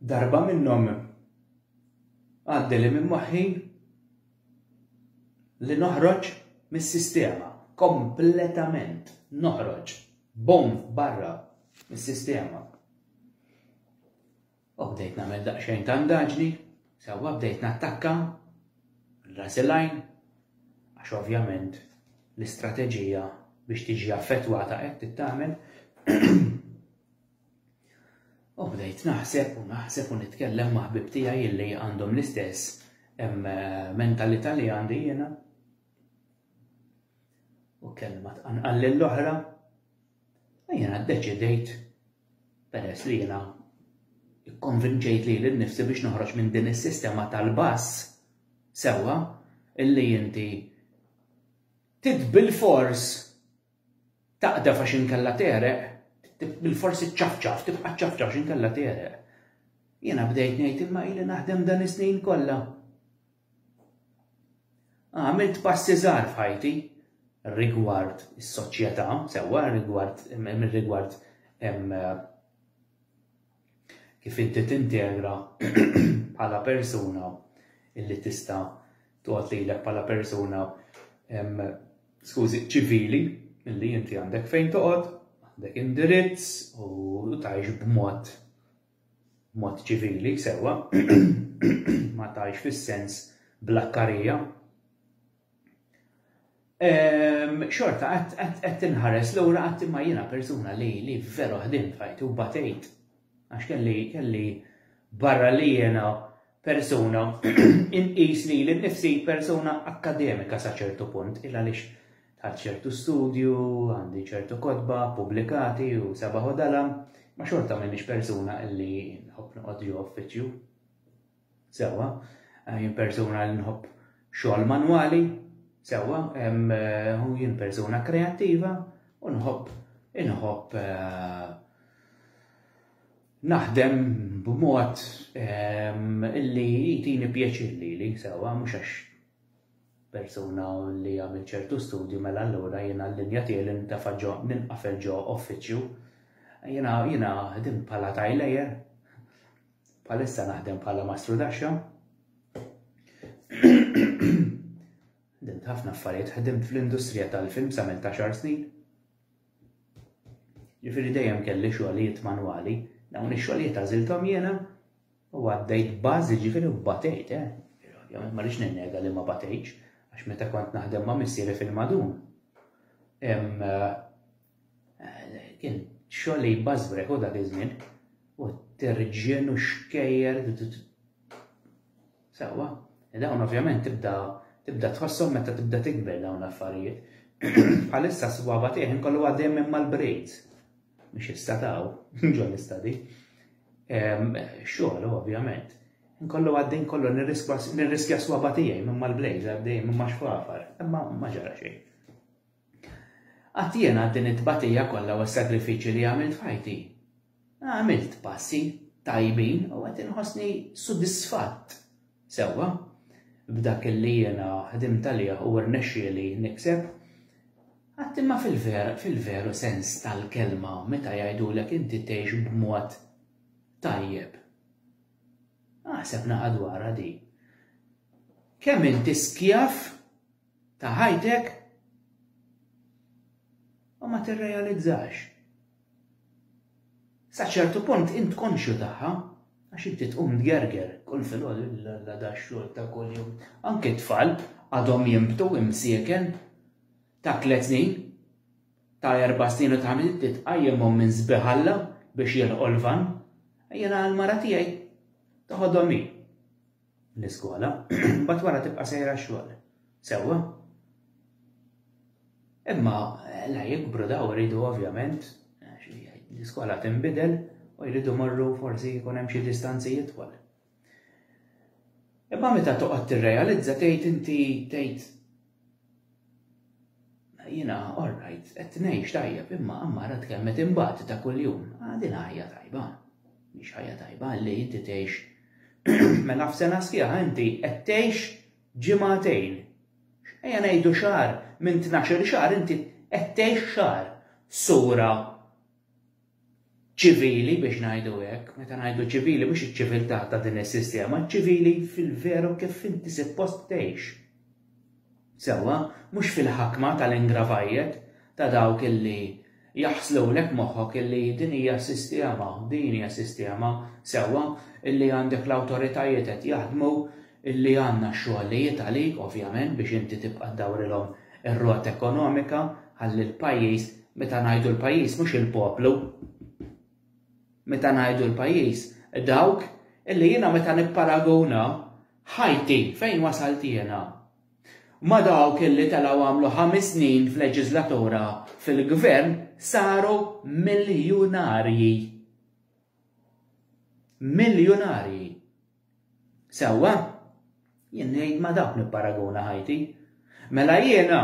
Darba minnhom għaddi li minn moħħi li noħroġ mis-sistema kompletament noħroġ bom barra mis-sistema. U bdejt nagħmel daqsxejn ta' ndaġni Sewwa bdejt nattakka ras il-għajn għax ovvjament l-istrateġija biex tiġi affettwata hekk tittagħmel. U bdejt naħseb u naħseb u nitkellem ma' ħbib tiegħi illi għandhom l-istess eh, mentalità li għandi jiena. U kelma tqanqal lill-oħra. Jiena ddeċidejt peress li jiena ikkonvinċejt lili nnifsi biex noħroġ minn din is-sistema tal-bass sewwa illi inti trid bilfors taqdef għax inkella tegħreq, bilfors iċċafċaf, tibqa' ċċafċaf għax inkella tegħreq. Jiena bdejt ngħid imma ili naħdem dan is-snin kollha. Għamilt passi żgħar f'ħajti rigward is-soċjetà, sewwa rigward rigward kif inti tintegra bħala persuna illi tista' toqgħod lilek bħala persuna skużi ċivili illi inti għandek fejn toqgħod, għandek indirizz u tgħix b'mod b'mod ċivili, sewwa, ma tgħix fis-sens blakkarija, xorta qed tinħares lura qatt imma jiena persuna li li veru ħdimt f'ħajti u batejt għax kelli kelli barra li jiena persuna, inqis lili nnifsi persuna akkademika sa ċertu punt, il għaliex għal ċertu studju, għandi ċertu kodba, publikati u sabaħu dalam, ma xorta minnix persuna illi nħobb noqgħod ġo uffiċċju. Sewa, eh, jien persuna li nħobb xogħol manwali, sewa, eh, u jien persuna kreattiva u nħobb inħobb eh, Naħdem b'mod li jtini pjaċir lili, sewwa, mhux għax persuna li għamilt ċertu studju mela allura jiena l-linja tiegħi li nintefa' ġo ninqafel ġo uffiċċju. Jiena jiena ħdimt bħala tajlejer, bħalissa naħdem bħala mastrudaxxa. Ħdimt ħafna affarijiet, ħdimt fl-industrija tal-film sa minn ta' xar snin. Jifieri dejjem kelli xogħlijiet manwali, dawn ix-xogħlijiet għażilthom jiena u għaddejt bażi ġifieri batejt, eh, ovvjament ma rridx ninnega li ma batejtx għax meta kont naħdem ma' missieri fil-madun. Hemm eh, kien xogħol li jbażbrek u dak iż-żmien u terġien u xkejjer Sewwa, dawn ovvjament tibda tibda tħosshom meta tibda tikber dawn l-affarijiet. Bħalissa s-sbaba tiegħi nkollu għaddej minn mal-braids. Mhux issa taw, ġo l-istadi. Xogħol ovvjament. Nkollu għaddej kollu nirriskja s-sbaba tiegħi minn mal-braids għaddej minn ma xfafar, imma ma ġara xejn. Għattiena din it-tbatija kollha u s-sagrifiċi li għamilt fajti. Għamilt passi tajbin u qed inħossni sodisfatt sewwa b'dak li jiena ħdimt għalih u rnexxieli nikseb. Għad imma fil-veru sens tal-kelma meta jgħidulek inti tgħix b'mod tajjeb? Aħseb naqa' dwarha din. Kemm inti skjav ta' ħajtek u ma tirrealizzax. Sa ċertu punt int konxju tagħha għax inti tqum tgerger kull filgħodu illa da xogħol ta' kuljum. Anke tfal għadhom jimbtu imsieken ta' tliet snin, ta' erba' snin u ta' inti tqajjimhom minn sbiħalla biex jilqgħu l-van. Jiena l-mara tiegħi toħodhom hi. l-iskola, mbagħad wara tibqa' sejra x-xogħol. Sewwa? Imma la jikbru daw iridu ovvjament l-iskola tinbidel u jridu morru forsi jkun hemm xi distanzi jitwal. Imma meta toqgħod tirrealizza tgħid inti tgħid Jiena all right, qed ngħix tajjeb imma Ammara tkellmet imbagħad ta' kuljum. Ah, din ħajja tajba. Mhix ħajja tajba li inti tgħix mela f'sena sħiħa inti qed tgħix ġimagħtejn. Ejja ngħidu xahar minn tnax-il xahar inti qed tgħix xahar. Sura ċivili biex ngħidu hekk, meta ngħidu ċivili mhux iċ-ċiviltà ta' din is-sistema, ċivili fil-veru kif inti suppost tgħix. Sewwa, mhux fil-ħakma tal-ingravajjet ta' dawk illi jaħslulek moħħok illi din hija sistema, din hija sistema, sewwa, illi għandek l-awtoritajiet qed jaħdmu illi għandna xogħlijiet għalik ovvjament biex inti tibqa' ddawrilhom ir-rota ekonomika ħalli l-pajjiż, meta ngħidu l-pajjiż mhux il-poplu, meta ngħidu l-pajjiż dawk illi jiena meta nipparaguna ħajti fejn wasalt jiena ma' dawk illi telgħu għamlu ħames snin f'leġiżlatura fil-gvern saru miljunarji. Miljunarji. Sewwa? Jien ngħid ma' dawk nipparaguna ħajti. Mela jiena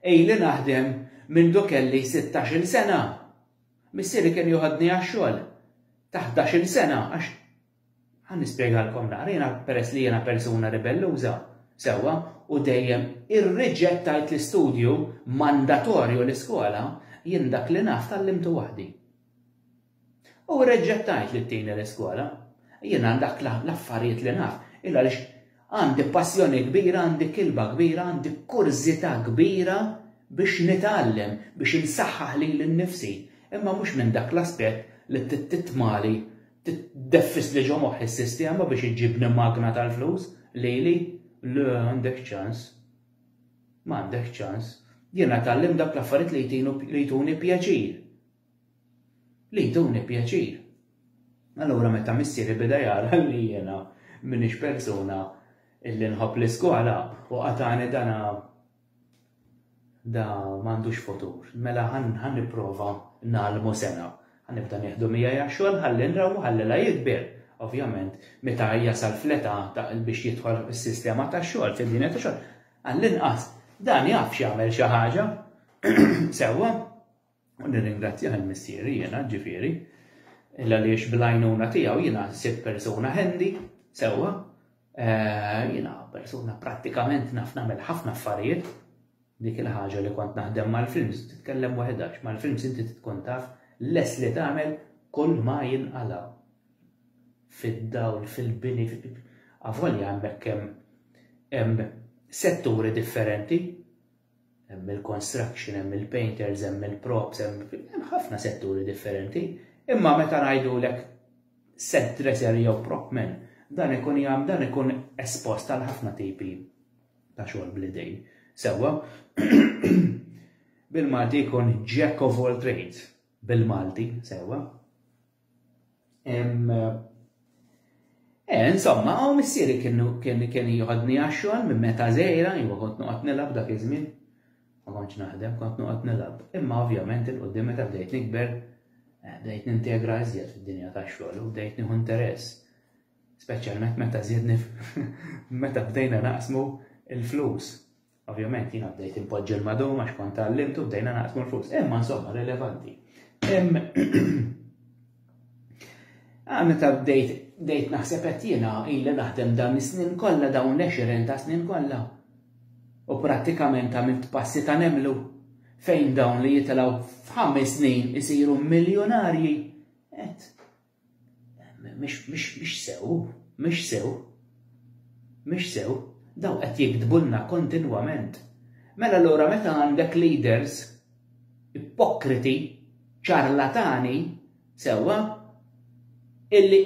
ili naħdem mindu kelli sittax-il sena. Missieri kien joħodni għax-xogħol ta' ħdax-il sena għax ħa nispjegalkom naqra, jiena peress li jiena persuna ribelluża, sewwa, u dejjem irriġettajt l-istudju mandatorju l-iskola, jien dak li naf tgħallimtu waħdi. U reġgħet tgħid li ttini l-iskola. Jien għal dak l-affarijiet li naf, il għaliex għandi passjoni kbira, għandi kilba kbira, għandi kurżità kbira biex nitgħallem, biex insaħħaħ lili nnifsi, imma mhux minn dak l-aspett li titmali, tdeffisli ġo moħħi s-sistema biex iġġibni magna tal-flus lili, le għandek ċans. M'għandek ċans. Jiena tgħallimt dawk l-affarijiet li jtuni pjaċir. li jduni pjaċir. Allura meta missieri beda jara li jiena m'iniex persuna li nħobb l-iskola u qatagħni dana da m'għandux futur. Mela ħa nipprova ngħallmu sengħa. Ħa nibda nieħdu miegħi għax-xogħol ħalli nra u ħalli la jikber. Ovvjament meta jasal fl-età ta' biex jidħol fis-sistema tax-xogħol, fid-dinja tax-xogħol, għall-inqas dan jaf x'jagħmel xi ħaġa sewwa. U nirringrazzjah il-Missieri jiena, ġifieri, għaliex bil-għajnuna tiegħu jiena sirt persuna handy, sewwa, eh, jiena persuna prattikament naf nagħmel ħafna affarijiet, dik il-ħaġa li kont naħdem mal-films titkellem waħedha, mal-films inti tkun taf les li tagħmel kull ma jinqalaw. Fid-dawl, fil-bini, avolja hemmhekk hemm setturi differenti hemm il-construction, hemm il-painters, hemm il-props, hemm ħafna setturi differenti, imma meta ngħidulek set dresser jew prop man, dan ikun jagħm dan ikun espost għal ħafna tipi ta' xogħol bl-idejn. Sewwa, bil-Malti jkun jack of all trades, bil-Malti, sewwa. Eh, insomma, għaw missieri kienu kien kien jħodni għaxxol minn meta zejra, jwa kont nuqat nilab dak iż-żmien. Ma kontx naħdem, kont nuqat nilab. Imma ovvjament il-qoddim meta bdejt nikber, eh, bdejt nintegra iżjed fid-dinja tax-xogħol u bdejt nieħu interess. Speċjalment meta żiedni meta bdejna naqsmu il-flus. Ovvjament jiena bdejt inpoġġi l-madum għax kont tgħallimtu bdejna naqsmu l-flus. Imma insomma rilevanti. Ah, meta bdejt bdejt naħseb qed jiena illi naħdem dan is-snin kollha dawn l-20 ta' snin kollha. U prattikament għamilt passi ta' nemlu fejn dawn li jitilgħu f'ħames snin isiru miljonarji. Et, Mhix sew, mhix sew, mhix sew, dawn qed jigdbulna kontinwament. Mela allura meta għandek leaders ipokriti, ċarlatani, sewwa, illi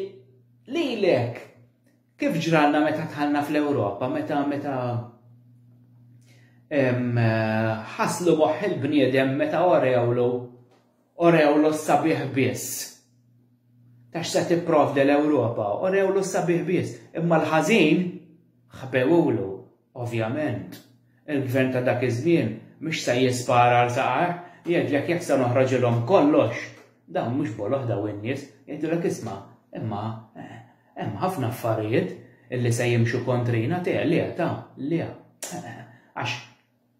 lilek kif ġralna meta dħalna fl-Ewropa, meta meta ħaslu moħħ il-bniedem meta orewlu Orewlu s-sabiħ biss. Ta' x'se tipprovdi l-Ewropa, orewlu s-sabiħ biss. Imma l-ħażin ħbewulu, ovvjament. Il-gvern ta' dak iż-żmien mhux se jispara għal saqajh, jgħidlek jekk se noħroġilhom kollox. Dawn mhux boloh daw in-nies, jgħidulek isma' imma eh, hemm ħafna affarijiet illi se jimxu kontrina te le ta' le. Eh, eh, għax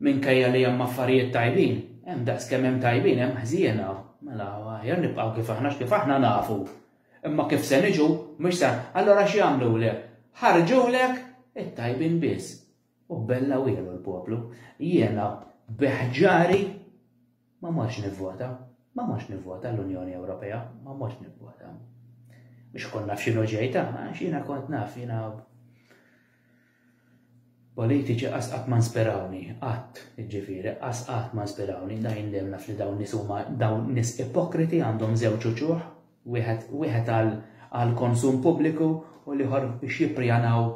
Minkejja li hemm affarijiet tajbin, hemm daqs kemm hemm tajbin hemm ħżiena. Mela, aħjar nibqgħu kif aħna għax kif aħna nafu. Imma kif se niġu, mhux se. Allura x'jagħmlulek? Ħarġulek it-tajbin biss. U bella wiegħlu l-poplu, Jiena bi ħġari Ma mortx nivvota, ma mortx nivvota l-Unjoni Ewropea, ma mortx nivvota. Biex kont naf xinu ġej ta' għax jiena kont naf jiena politiċi qas qatt ma nspirawni, qatt, ġifieri, qas qatt ma nspirawni, dajn li naf li dawn nies huma dawn nies ipokriti għandhom żewġ uċuħ, wieħed wieħed għal konsum pubbliku u l-ieħor biex jipprijanaw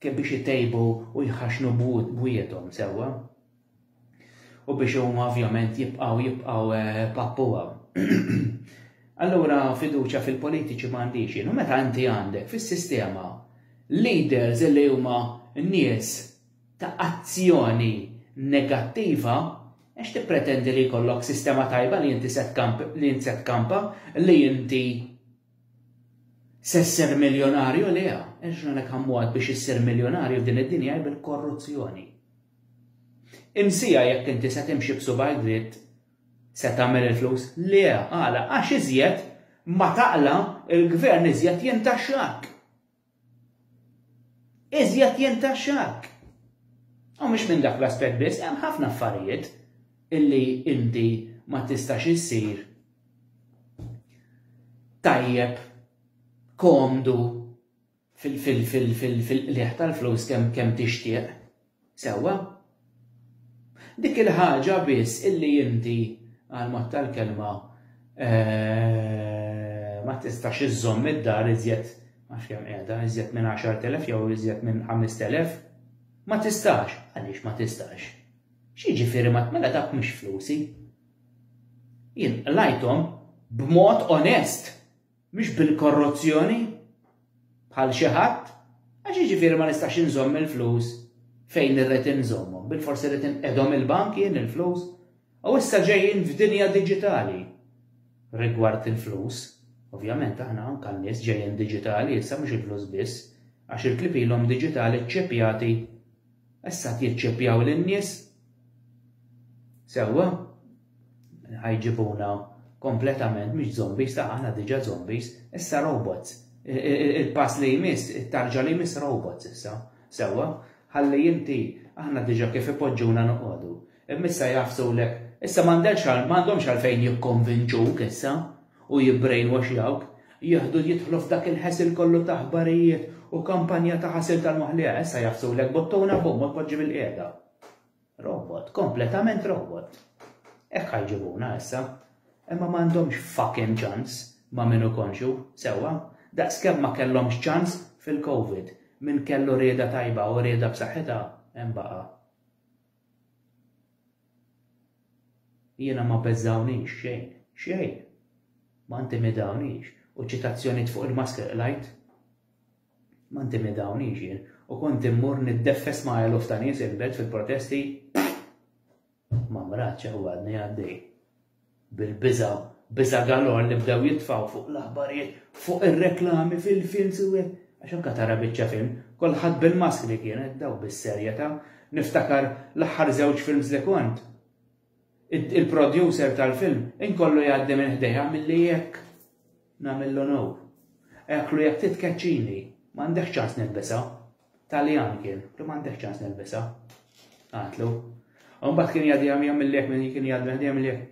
kif biex itejbu u jħaxnu bwiethom sewwa. u biex huma ovvjament jibqgħu jibqgħu eh, pappuha. Allura fiduċja fil-politiċi m'għandix jien. U meta inti għandek fis-sistema leaders li huma nies ta' azzjoni negattiva, għax tippretendi li jkollok sistema tajba li inti set li inti set kampa li inti sesser miljonarju li għax għanek għammuħat biex jisser miljonarju f'din id-dinja bil-korruzzjoni. Imsija jekk inti se timxi b'subgħajk dritt se tagħmel il-flus? Le, għala? Għax iżjed ma taqla' l-gvern iżjed jintaxxak. Iżjed jintaxxak. U mhux minn dak l-aspett biss, hemm ħafna affarijiet illi inti ma tistax issir tajjeb, komdu, fil-qligħ tal-flus kemm tixtieq, sewwa? Dik il-ħaġa biss illi inti, għall-mod tal-kelma, ma tistax iżżomm id-dar iżjed, ma nafx kemm qiegħda, iżjed minn għaxart elef jew iżjed minn ħamest elef, ma tistax. Għaliex ma tistax? X'jiġifieri ma mela dak mhux flusi? Jien qlajthom b'mod onest. Mhux bil-korruzzjoni, bħal xi ħadd, għax jiġifieri ma nistax inżomm il-flus fejn irrid inżommhom, bilfors irrid inqegħdhom il-bank jien il-flus, u issa ġejjin f'dinja diġitali rigward il-flus. Ovvjament aħna anke n-nies ġejjin diġitali issa mhux il-flus biss, għax il-klieb ilhom diġitali ċċepjati Issa qed jiċċeppjaw lin-nies. Sewwa? Ħajġibuna kompletament mhux zombies, ta' aħna diġà zombies, issa robots. Il-pass li jmiss, it-tarġa li jmiss robots issa. Sewwa? Ħalli inti aħna diġà kif ipoġġuna noqogħdu. Imma issa jgħaffsulek. Issa m'għandhomx għalfejn jikkonvinċuk issa u jibbrainwashjawk, jieħdu jidħlu f'dak il-ħesel kollu ta' aħbarijiet u kampanja ta' ħasil tal-moħħ issa jgħaffsulek bottuna bum u tpoġġi bil-qiegħda. Robot, kompletament robot. Hekk ħajġibuna issa. Imma m'għandhomx fucking ċans ma' minu konxu, sewwa, daqskemm ma kellhomx ċans fil-Covid, min kellu rieda tajba u rieda b'saħħitha hemm baqa'. Jiena ma beżgħunix xejn, xejn! Ma ntimidawniex, u ċ-ċitazzjonijiet fuq il-mask li qrajt? Ma ntimidawniex jien, u kont immur niddeffes ma' eluf ta' nies il-Belt fil-protesti? Ma mratx, ew għadni għaddej. Bil-biża', biża' galore li bdew jitfgħu fuq l-aħbarijiet, fuq ir-reklami, fil-films u hekk. Għax anke tara biċċa film, kulħadd bil-maskri kienet, dawk bis-serjetà. Niftakar l-aħħar żewġ films li kont, il-producer tal-film inkollu jgħaddi minn ħdejja milli hekk nagħmel l-onor. Eklu jekk titkeċċini, m'għandekx ċans nilbisha. Taljan kien, li m'għandek ċans nilbisha. Għatlu. U mbagħad kien jgħaddi għam jgħam il-lek minn kien jgħaddi għam jgħam il-lek.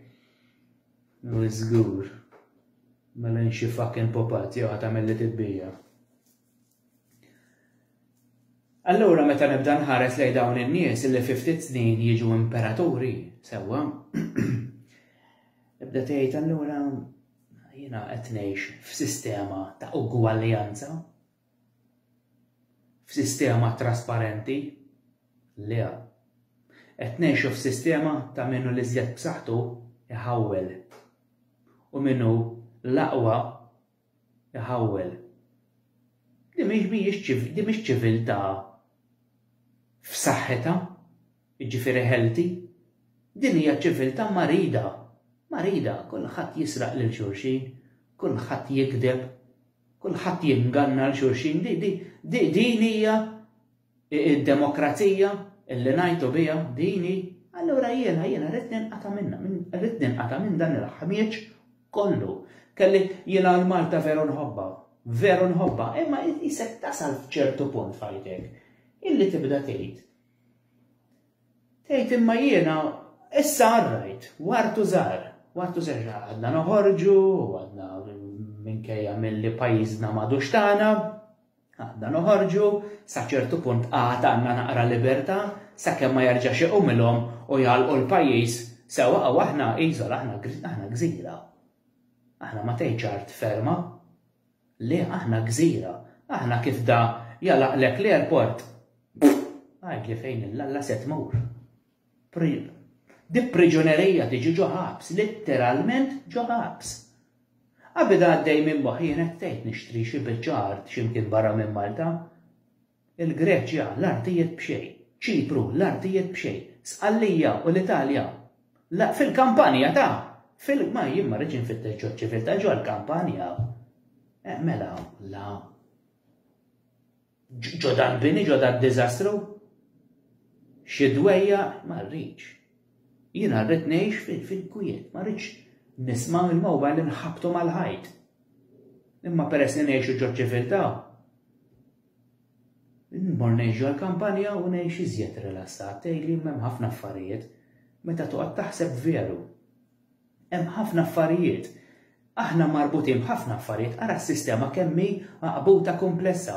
U żgur. Mela nxi fucking popat jew ħadd għamel li tibbija. Allura meta nibda nħares lej dawn in-nies li fi ftit snin jiġu imperaturi, sewwa. Ibda tgħid allura jiena qed ngħix f'sistema ta' ugwaljanza f'sistema trasparenti? Le. Qed ngħixu f'sistema ta' min hu l-iżjed b'saħħtu jħawwel u min hu l-aqwa jħawwel. Din mhix ċiviltà f'saħħitha, jiġifieri healthy. Din hija ċiviltà marida. Marida, kulħadd jisraq lil xulxin, kulħadd jigdeb, Kulħadd jinganna 'l xulxin. Din hija d-demokrazija li ngħajtu biha? Din hi? Allura jiena, jiena ridt ninqata' minnha, ridt ninqata' minn dan il-ħmieġ kollu. Kelli, jiena l-Malta veru nħobbha, veru nħobbha, imma qisek tasal f'ċertu punt f'ħajtek illi tibda tgħid, Tgħid imma jiena issa għarrajt, u artu żgħar, u artu żgħar għadna noħorġu, u għadna minkejja milli pajjiżna m'għadux tagħna, għadna noħorġu, sa ċertu punt għad għandna naqra libertà, sakemm ma jerġax iqumilhom u jagħlqu l-pajjiż sewwa u aħna iżola, aħna gżira. Aħna ma tgħidx art ferma. Le aħna gżira. Aħna kif da jagħlaqlek l-airport għidli fejn il-Alla se tmur. Di priġunerija tiġi ġo ħabs, litteralment ġo ħabs. Abida għaddej minn moħħi jien qed tgħid nixtri xi biċċa art x'imkien barra minn Malta. il-Greċja l-artijiet b'xejn, Ċipru l-artijiet b'xejn, Sqallija u l-Italja la fil-Kampanja ta! fil ma jien ma rridx infittex ġo ċiviltà ġo l-Kampanja eh, mela la ġo dal-bini ġo dal-diżastru xi dwejja ma rridx. Jiena rrid ngħix fil-kwiet, ma rridx nisma' il-mowba li nħabtu mal-ħajt. Imma peress li ngħixu ġo ċiviltà, Nmur ngħix ġol-kampanja u ngħix iżjed rilassat, tgħidli m'hemm ħafna affarijiet. Meta toqgħod taħseb veru. Hemm ħafna affarijiet. Aħna marbutin b'ħafna affarijiet, ara s-sistema kemm hi għaqbuta kumplessa.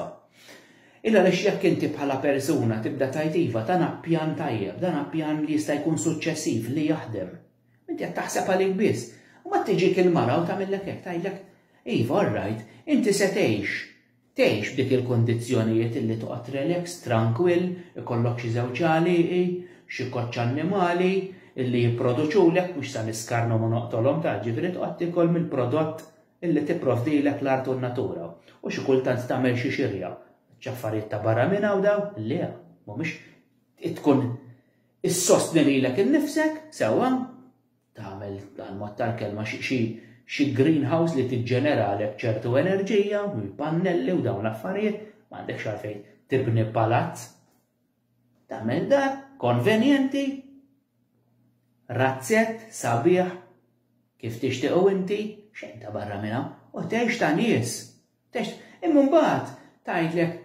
Illa għaliex jekk inti bħala persuna tibda tgħid iva dan ha pjan tajjeb, dan ha pjan li jista' jkun suċċessiv, li jaħdem. Inti qed taħseb għalik biss. Mbagħad tiġik il-mara u tagħmillek hekk, tgħidlek, iva all right, inti se tgħix, Tgħix f'dik il-kundizzjonijiet illi toqgħod relax, trankwill, ikollok xi żewġ għalieqi, xi koċċ annimali illi jipproduċulek, mhux sa niskarnhom u noqtolhom ta', ġifieri toqgħod tiekol mill-prodott illi tipprovdilek l-art u n-natura. U xi kultant tagħmel xi xirja. X'affarijiet ta' barra minn hawn dawn? Le, mhumiex. Tkun issostni lilek innifsek, sewwa, tagħmel għal mod tal-kelma xi greenhouse li tiġġeneralek ċertu enerġija, pannelli u dawn l-affarijiet, ma għandekx għalfejn tibni palazz. Tagħmel dar konvenjenti, razzett, sabiħ, kif tixtiequ inti, xejn ta' barra minna, u tgħix ta' nies, Text, Imma mbagħad tgħidlek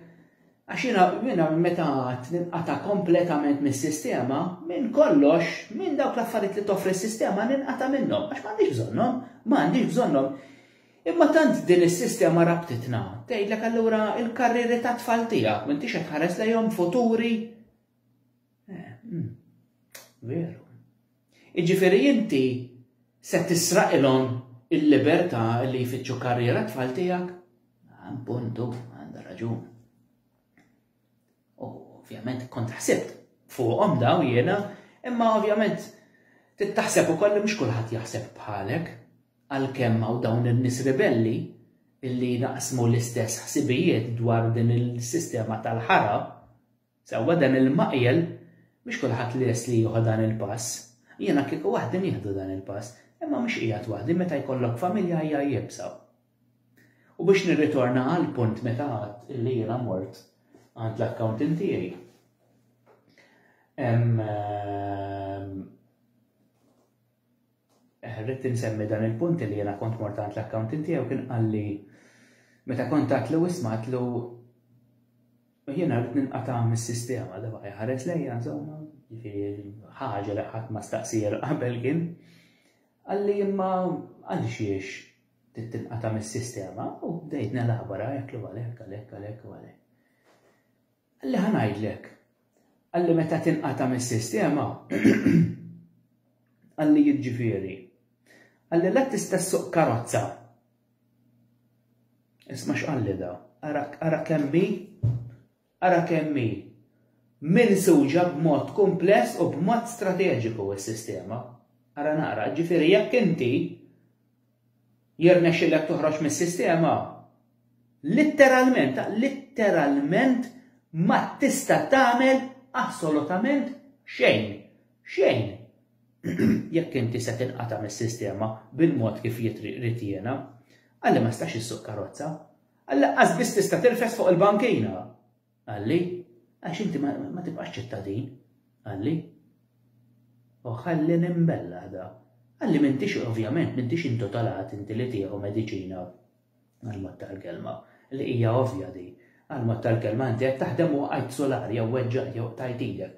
għax jiena jiena meta għad ninqata' kompletament mis-sistema, minn kollox, minn dawk l-affarijiet li toffri s-sistema ninqata' minnhom għax m'għandix bżonnhom, m'għandix bżonnhom. Imma tant din is-sistema rabtitna, tgħidlek allura l-karrieri tat-tfal tiegħek m'intix qed tħares lejhom futuri? Eh, hmm, veru. Iġifieri inti se tisraqilhom il-libertà li jfittxu karriera tfal tiegħek? Ah, puntu, għandha raġun. U ovvjament kont ħsibt fuqhom daw jiena, imma ovvjament tittaħseb ukoll li mhux kulħadd jaħseb bħalek għalkemm hawn dawn in-nies ribelli illi naqsmu l-istess ħsibijiet dwar din il-sistema tal-ħara Sewwa dan il-maqjel mhux kulħadd lest li jieħu dan il-pass. Jiena kieku waħdi nieħdu dan il-pass, imma mhux qiegħed waħdi meta jkollok familja hija iebsa. U biex nirritorna għall-punt meta għedt illi jiena mort għand l-accountant tiegħi. Ehm, Rrid insemmi dan il-punt li jiena kont mort għand l-accountant tiegħu kien qalli meta kont għatlu isma' għatlu jiena rrid ninqata' mis-sistema da baqgħi ħares lejja insomma ħaġa li ħadd ma staqsir qabel kien qalli imma għaliex jiex tittinqata mis-sistema u bdejt nelabora jekk li għalhekk għalhekk għalhekk għalhekk. Qalli ħa ngħidlek. Qalli meta tinqata' mis-sistema qalli jiġġifieri. Qalli la tista' ssuq karozza. Isma' x'qalli da. Ara ara kemm hi ara kemm hi minsuġa b'mod kumpless u b'mod strateġiku s-sistema. Ara naqra, ġifieri jekk inti Jirnexxilek toħroġ mis-sistema? Litteralment, litteralment ma tista' tagħmel assolutament xejn. Xejn. Jekk inti se tinqata' mis-sistema bil-mod kif jrid jiena, għalli ma stax issuq karozza, għal laqqas biss tista' tirfes fuq il-bankina. Qalli, Għax inti ma tibqax ċittadin. Qalli, O ħalli nimbellaħ da. Qalli m'intix ovvjament m'intix intotalat inti li tieħu mediċina għall-mod tal-kelma, li hija ovvja di. Għall-mod tal-kelma inti qed taħdem u waqajt solar jew weġġajt jew qtajt idek.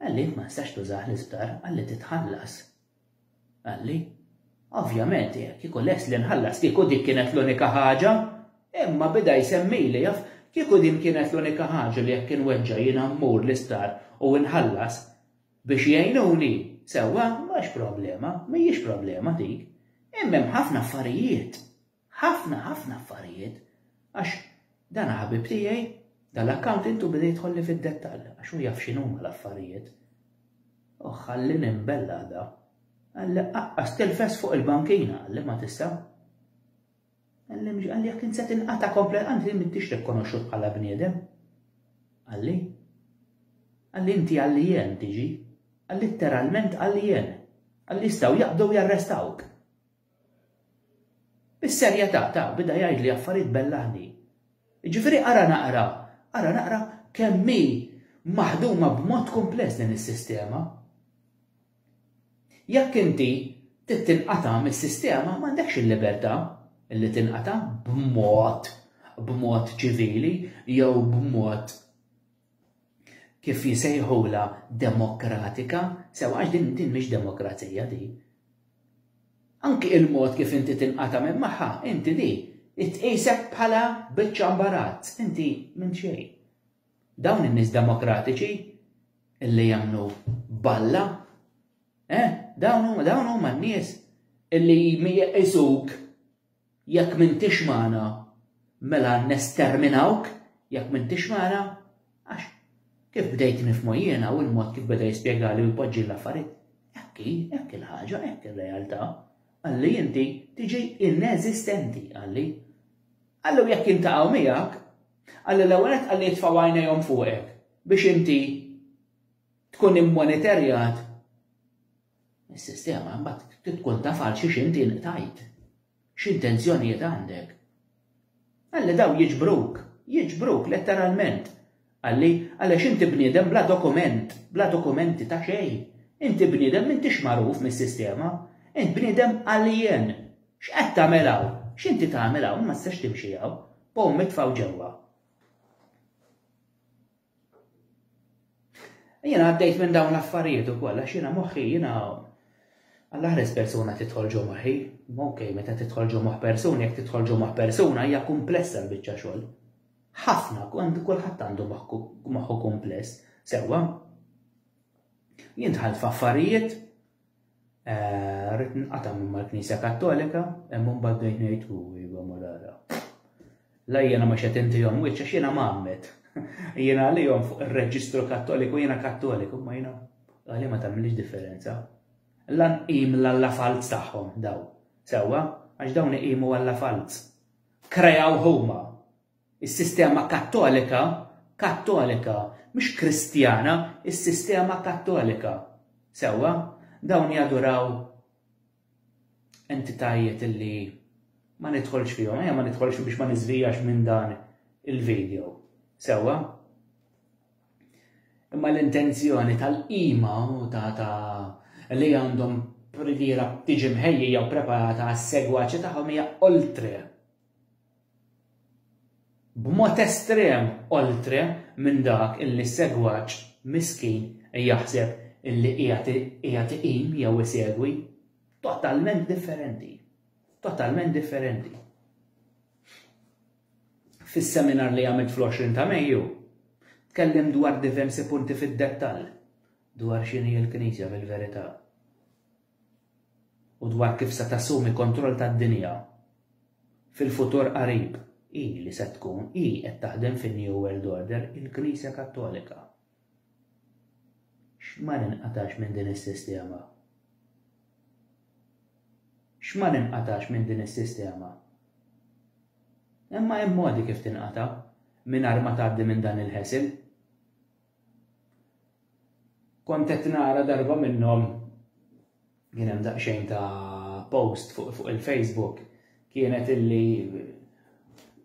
Qalli int ma tistax tużah l-isptar, qalli titħallas. Qalli, Ovvjament, kieku lest li nħallas kieku dik kienet l-unika ħaġa. Imma bida jsemmili, jaf, kieku din kienet l-unika ħaġa li jekk inweġġa' jiena mmur l-isptar u nħallas biex jgħinuni, sewwa, mhux problema, mhijiex problema dik. Imma hemm ħafna affarijiet. Ħafna, ħafna affarijiet, għax dan ħabib tiegħi, dan l-accountant u beda jidħolli fid-dettall, għax hu jaf x'inhuma l-affarijiet. U ħalli nimbel l-għada. Għalli aqqas tilfes fuq il-bankina, għalli ma tista'. Għalli mġi, għalli jekk inset inqata komplet, għandi mittix rikonoxxut bħala bniedem. Għalli. Għalli inti għalli jen tiġi. Għalli literalment għalli jen. Għalli jistaw jaqdu jarrestawk. Bis-serjetà ta' bida jgħidli affarijiet bellaħni. Jiġifieri ara naqra, ara naqra kemm hi maħduma b'mod kumpless din is-sistema. Jekk inti trid tinqata' mis-sistema m'għandekx il-libertà li tinqata' b'mod b'mod ċivili jew b'mod kif jsejħulha demokratika, sew għax din din mhix demokrazija di. Anki il-mod kif inti tinqata' minn magħha, inti di tqisek bħala biċċa mbarazz, inti minn xejn. Dawn in-nies demokratiċi illi jagħmlu balla, eh, dawn huma dawn huma n-nies illi jqisuk Jekk m'intix magħna, mela nesterminawk, jekk m'intix magħna, għax, kif bdejt nifhmu jiena u l-mod kif beda jispjegali u jpoġġi l-affarijiet, hekk hi, hekk hi l-ħaġa, hekk hi r-realtà, qalli inti tiġi ineżistenti, qalli. Qalli u jekk jiltaqgħu miegħek, qalli l-ewwel nett qalli jitfgħu għajnejhom fuqek biex inti tkun immoniterjat Is-sistema mbagħad trid tkun taf għal xiex inti inqtajt. X'intenzjonijiet għandek? Qalli dawn jiġbruk, jiġbruk letteralment. Qalli għaliex inti bniedem bla dokument, bla dokumenti ta' xejn. Inti bniedem m'intix magħruf mis-sistema. Int bniedem alien. X'qed tagħmel hawn? X'inti tagħmel hawn? Ma tistax timxi hawn. Pomm itfgħu ġewwa. Jiena għaddejt minn dawn l-affarijiet ukoll għax jiena moħħi jiena għall-aħres persuna tidħol ġo moħħi. Ok, meta tidħol ġo moħħ persuna, jekk tidħol ġo moħħ persuna hija kumplessa l-biċċa xogħol. Ħafna kont kulħadd għandu moħħu kumpless, sewwa. Jien dħalt f'affarijiet Eh, rrit nqata' minn mal-Knisja Kattolika, imma mbagħad bdejt ngħid u iva marara. La jiena ma xed intihom wiċċ għax jiena magħmed. Jiena għalihom fuq ir-reġistru Kattoliku jiena Kattoliku, ma jiena għalihom ma tagħmilx differenza. Lan qim l-alla falz tagħhom daw. Sewwa, għax dawn iqimu alla falz. Krejaw huma. Is-sistema Kattolika, Kattolika, mhux Kristjana, is-sistema Kattolika. Sewwa? Dawn jaduraw entitajiet li ma nidħolx fihom, ejja ma nidħolx biex ma niżvijax minn dan il-video. Sewwa? Imma l-intenzjoni tal-qima u ta' ta' li għandhom privira tiġi mħejjija u preparata għas-segwaċi tagħhom hija oltre B'mod estrem oltre minn dak illi s-segwaċ miskin jaħseb illi qiegħed iqim jew isegwi. Totalment differenti. Totalment differenti. Fis-seminar li għamilt fl-20 ta' Mejju, tkellimt dwar diversi punti fid-dettall dwar x'inhi l-Knisja fil-verità. u dwar kif se tassumi kontroll tad-dinja fil-futur qarib. Hi li se tkun, hi qed taħdem fin-New World Order, il-Knisja Kattolika. X'ma ninqatax minn din is-sistema? X'ma ninqatax minn din is-sistema? Imma hemm modi kif tinqata' mingħajr ma tgħaddi minn dan il-ħesel. Kont qed nara darba minnhom kien hemm daqsxejn ta' post fuq fuq il-Facebook kienet illi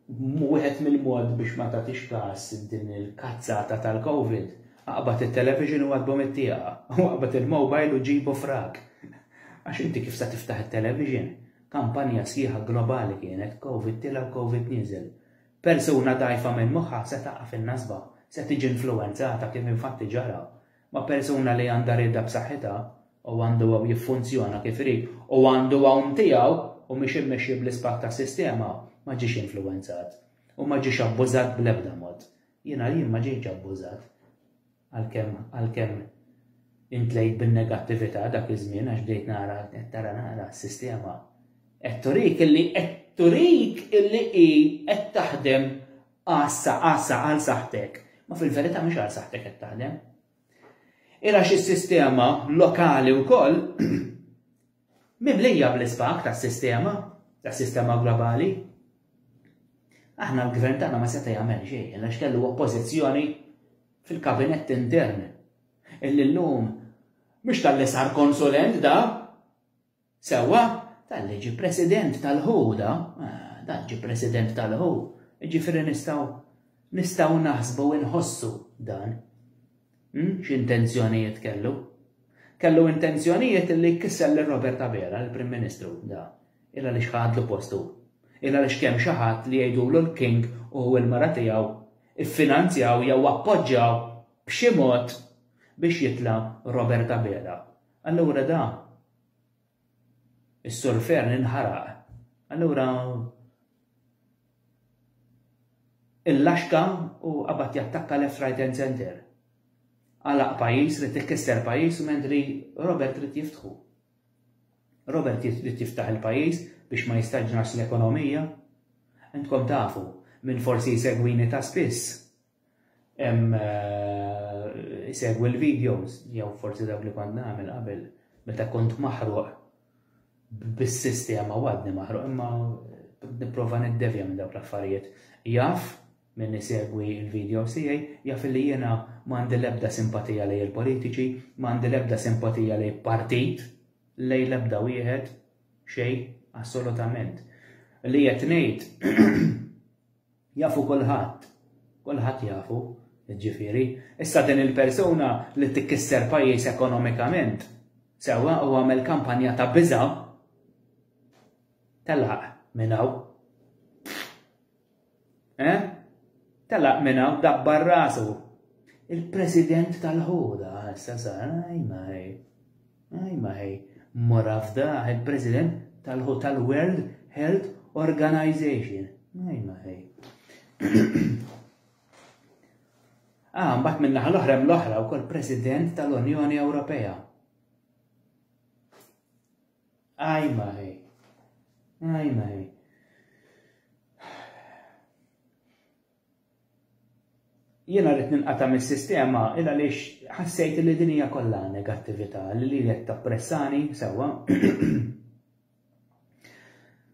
wieħed mill-mod biex ma tagħtix każ din il-kazzata tal-Covid, aqbad it-television u għaddbhom it-tieqa, u aqbad il-mobile u ġibu frak. Għax inti kif sa tiftaħ it-television? Kampanja sħiħa globali kienet, Covid tilgħa u Covid nieżel. Persuna dgħajfa minn moħħha se taqa' fin-nasba, se tiġi influwenzata, kif infatti ġara, ma' persuna li għandha rieda b'saħħitha, u għandu hawn jiffunzjona kif irid, u għandu hawn tiegħu, u mhix immexxi bl-ispak tas-sistema, ma ġiex influwenzat, u ma ġiex abbużat bl-ebda mod. Jiena jien ma ġejtx abbużat. Għalkemm, għalkemm imtlejt bin-negattività dak iż-żmien għax bdejt nara, qed tara nara s-sistema qed turik illi qed turik illi hi qed taħdem għassa għassa għal saħtek. Ma fil-verità mhux għal saħtek qed taħdem. Ira xi sistema lokali wkoll mimlija bl-isbak tas-sistema, tas-sistema globali. Aħna l-gvern tagħna ma seta' jagħmel xejn għax kellu oppożizzjoni fil-kabinett intern. Illi llum mhux tal-li sar konsulent da, sewwa tal-li ġi president tal-ħuda, eh, dan ġi president tal-ħu, ġifiri nistaw nistaw naħsbu inħossu dan. Hm, x'intenzjonijiet kellu? Kellu intenzjonijiet li jkisser lil Robert Abela, il-Prim Ministru, da, illa li xħadlu postu. Illa li xkemm xi ħadd li jgħidulu l-King u l-mara tiegħu iffinanzjaw jew appoġġjaw b'xi mod biex jitla' Robert Abela. Allura da Is-Sur Fearne inħaraq. Allura illaxka u qabad jattakka left right and center. Għalaq pajjiż, rid ikkisser pajjiż u mentri Robert rid jiftħu. Robert rid jiftaħ il-pajjiż biex ma jistaġnax l-ekonomija. Intkom tafu, min forsi jsegwini ta' spiss, Hemm isegwi eh, l-videos jew forsi dawk li kont nagħmel qabel meta kont maħruq bis-sistema għadni maħruq imma nipprova niddevja minn dawk l-affarijiet. Jaf minn isegwi il-video sijaj, jaf li jena mandi lebda simpatija lej il-politiċi, mandi lebda simpatija lej partit, lej lebda wieħed, xej, assolutament. Li jatnejt, Jafu kulħadd. Kulħadd jafu, jiġifieri. Issa din il-persuna li tikkisser pajjiż ekonomikament, sewwa u għamel kampanja ta' biża', telaq minn hawn. Eh? Telaq minn hawn dabbar rasu. Il-President tal-ħuda, issa sar, ajmaj. Hi ma hi, mara f'dah il-President tal-World Health Organization. Hi ma hi. Ah, mbagħad minn naħa l-oħra hemm l-oħra wkoll President tal-Unjoni Ewropea. Aj maħi. Aj maħi. Jiena ridt ninqata' mis-sistema il għaliex ħassejt li din hija kollha negattività li li qed tappressani sewwa.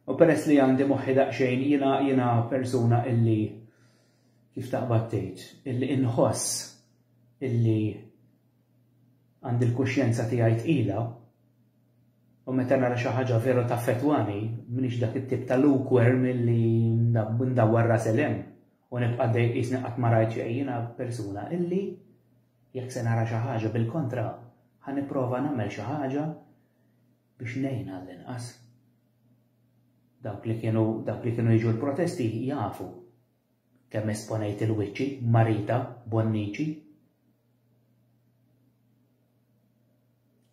U peress li għandi moħħi daqsxejn jiena jiena persuna illi kif taqbad tgħid illi inħoss illi għandi l-kuxjenza tiegħi tqila u meta nara xi ħaġa veru taffettwani m'iniex dak it-tip ta' lukewarm li ndawwar rasi l u nibqa' dej qisni qatt ma rajt xejn jiena persuna illi jekk se nara xi ħaġa bil-kontra ħa nipprova nagħmel xi ħaġa biex ngħin għall-inqas. Dawk li kienu dawk li kienu jiġu l-protesti jafu Kemm esponejt il-wiċċi, Marita Bonnici.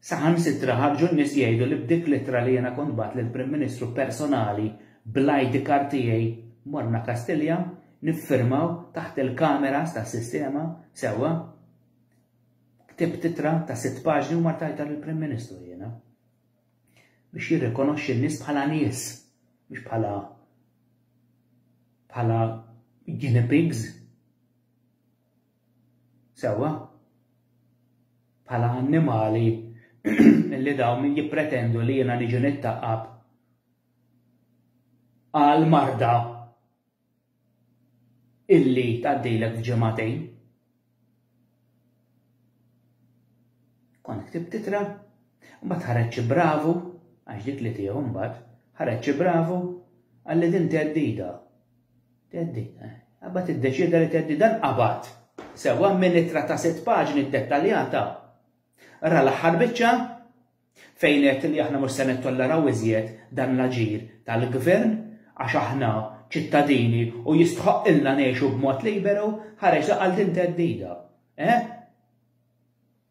Saħansitra ħarġu n-nies jgħidu li b'dik l-ittra li jiena kont bgħatt lill-Prim Ministru personali bl-ID card tiegħi morna Kastilja niffirmaw taħt il-kameras tas-sistema sewwa. Ktibt ittra ta' sitt paġni u martajtha lill-Prim Ministru jiena. biex jirrikonoxxi n-nies bħala nies, mhux bħala bħala guinea pigs. Sewwa? Bħala annimali li dawn min jippretendu li jiena niġi nittaqab għal marda illi tgħaddilek f'ġimagħtejn. Kont ktibt itra, mbagħad ħareġ xi bravu, għax dik li tiegħu mbagħad, ħareġ xi bravu, għalli din teddida. Teddida, eh. Għabba tiddeċida li teddida nqabad. Sewa minn itra ta' sitt paġni dettaljata. Ra l-aħħar biċċa, Fejn għedt li aħna mhux se nittolleraw iżjed dan l-aġir tal-Gvern għax aħna ċittadini u jistħoqqilna ngħixu b'mod liberu, ħareġ li qal din theddida. Eh?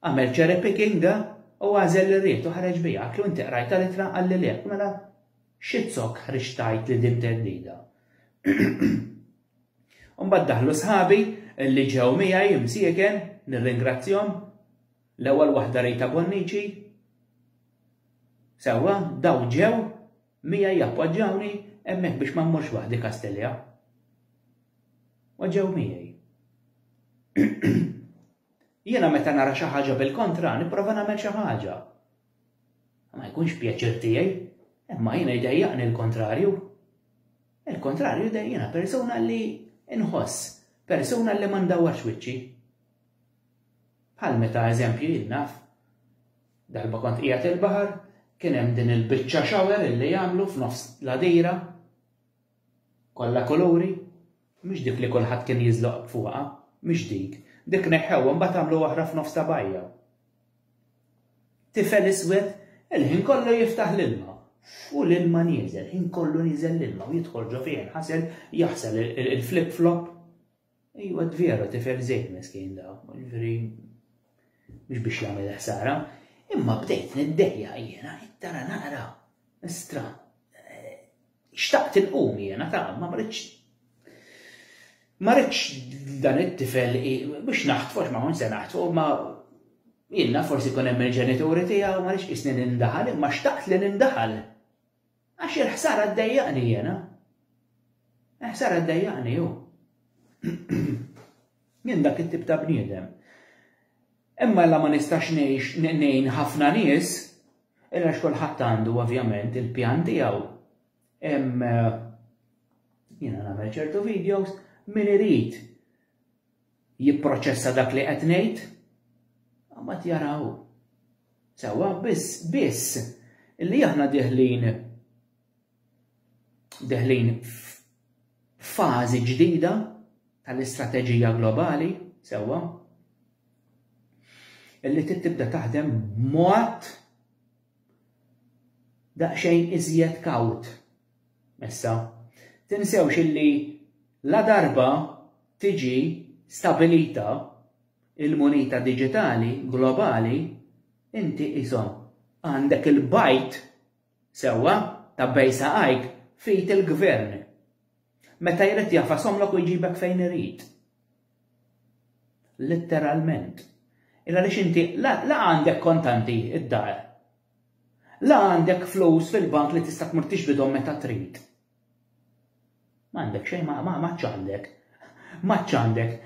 Għamel cherry picking u għażel li ried u ħareġ biha, għatlu inti qrajta l-ittra qal li le, mela xizzok ħriġ tajt li din theddida. Umbad daħlu sħabi li ġew miegħi msieken, nirringrazzjom, L-ewwel waħda Rita Bonnici. Sewwa, dawn ġew miegħi jappoġġawni hemmhekk biex ma mmurx waħdi Kastilja. U ġew miegħi. Jiena meta nara xi ħaġa bil-kontra nipprova nagħmel xi ħaġa. Ma jkunx pjaċir tiegħi, imma jiena jdejjaqni l-kontrarju. Il-kontrarju dejjina persuna li inħoss, persuna li ma ndawarx wiċċi. Bħal meta eżempju jien naf, darba kont qiegħed il-baħar, kien hemm din il-biċċa shower illi għamlu f'nofs l-għadira, kollha kuluri, mhix dik li kulħadd kien jiżloq fuqha, mhix dik, dik neħħewha mbagħad għamlu oħra f'nofs ta' bajja. Tifel iswed il-ħin kollu jiftaħ l-ilma u l-ilma nieżel, ħin kollu nieżel l-ilma u jidħol ġo fih ħasel jaħsel il-flip flop Ejwa dvero tifhem żejt meskin da, jiġifieri mhux biex jagħmel il-ħsara, imma bdejt niddejjaq jiena qed tara naqra istra eh, xtaqt inqum jiena ta' ma mridx ma rridx dan it-tifel biex naħtfu ma kun se naħtfu ma jiena forsi kun hemm il-ġenituri tiegħu ma rridx isni nindaħal imma xtaqt li nindaħal. Għax il-ħsara ddejjaqni jiena. Il-ħsara ddejjaqni hu. Jien dak it-tip ta' bniedem. Imma la ma nistax ngħix ngħin ħafna nies, illa x'kulħadd għandu ovvjament il-pjan tiegħu. Hemm eh, jiena nagħmel ċertu videos min irid jipproċessa dak li qed ngħid? Mbagħad jaraw. Sewwa biss biss illi aħna deħlin deħlin fażi ġdida tal-istrateġija globali, sewwa, illi tibda taħdem mod daqsxejn iżjed kawt. Issa, tinsewx illi ladarba tiġi stabilita il-munita diġitali globali, inti qishom għandek il-bajd, sewwa, ta' bejgħ saqajk f'id il-gvern. Meta jrid jagħfashomlok u jġibek fejn irid. Litteralment. Il għaliex inti la għandek kontanti id-dar. La għandek flus fil-bank li tista' tmur tixbidhom meta trid. M'għandek xejn ma ma ċandek. Ma ċandek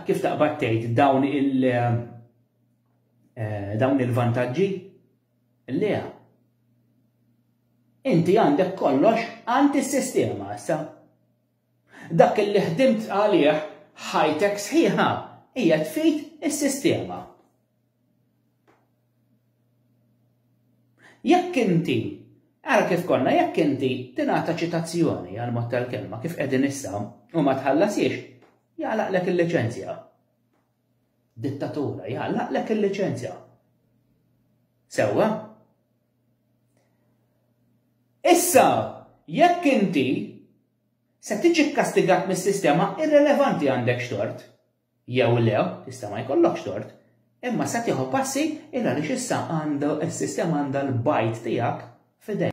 kif taqbad tgħid dawn il- eh, dawn il-vantaġġi? Le. Inti għandek kollox għand is-sistema issa. Dak li ħdimt għalih ħajtek sħiħa qiegħed f'id is-sistema. Jekk inti, ara kif konna, jekk inti tingħata ċitazzjoni għal mod tal-kelma kif qegħdin issa u ma tħallasiex, jagħlaqlek il-liċenzja. Dittatura jagħlaqlek il-liċenzja. Sewwa? Issa, jekk inti se tiġi kkastigat mis-sistema irrelevanti għandekx tort jew le, tista' ma jkollokx tort, imma se tieħu passi il għaliex issa għandu s-sistema għandha l-bajd tiegħek f'idejha.